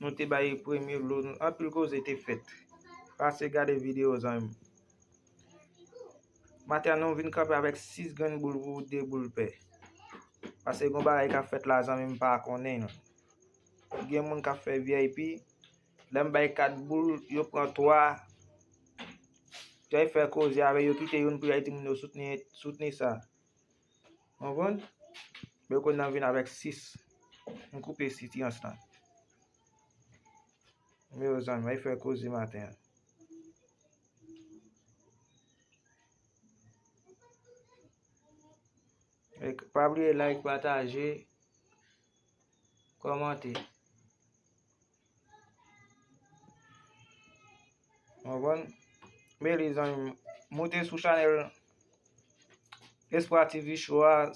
Nou te bay premye lo nou anpil koze te fèt. Pase gade video zanmi m. Maten an nou vin kanpe avèk 6 grenn boul pou 2 boul pè. Pase gon bagay kap fèt la zanmi m pa konnen. Gen moun kap fè vip. Lè m bay 4 boul yo pran 3. Jay fè koze avè yo kite youn pou jay di moun yo soutni sa. Mwen konn Mwen konn nan vin avèk 6 M koupe sitirans lan Mwen yo zanmi Mwen fè koze maten an Pa bliye like pataje Kòmante Mwen bon. Mwen li zan yon. Moute sou chanel. Espwa TV show a.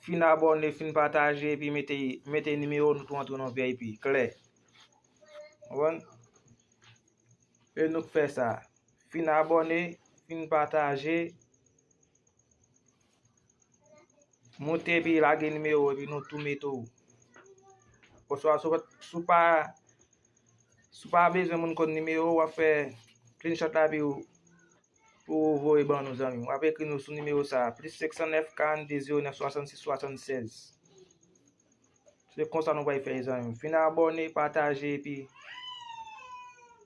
Fin abone, fin pataje. Epi mete nimeyo nou tou antre nan VIP. Kle. Mwen bon. E nou k fè sa. Fin abone, fin pataje. Moute epi lage nimewo epi nou tou mete ou. Oswa sou pa sou pa bezwen moun konn nimewo wap fè screenshot la epi ou voye ban nou zanmi. Wap ekri nou sou nimewo sa plis 509 42 09 66 76. Se konsa nou bay fè zanmi. Finn abone, pataje epi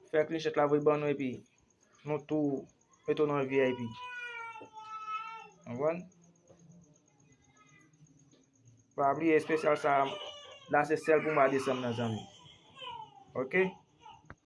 fè screenshot la voye ban nou epi. Nou tou met ou nan vip. Konprann? Pa bliye espesyal sa la se sèl pou mwa desanm nan zanmi. Ok?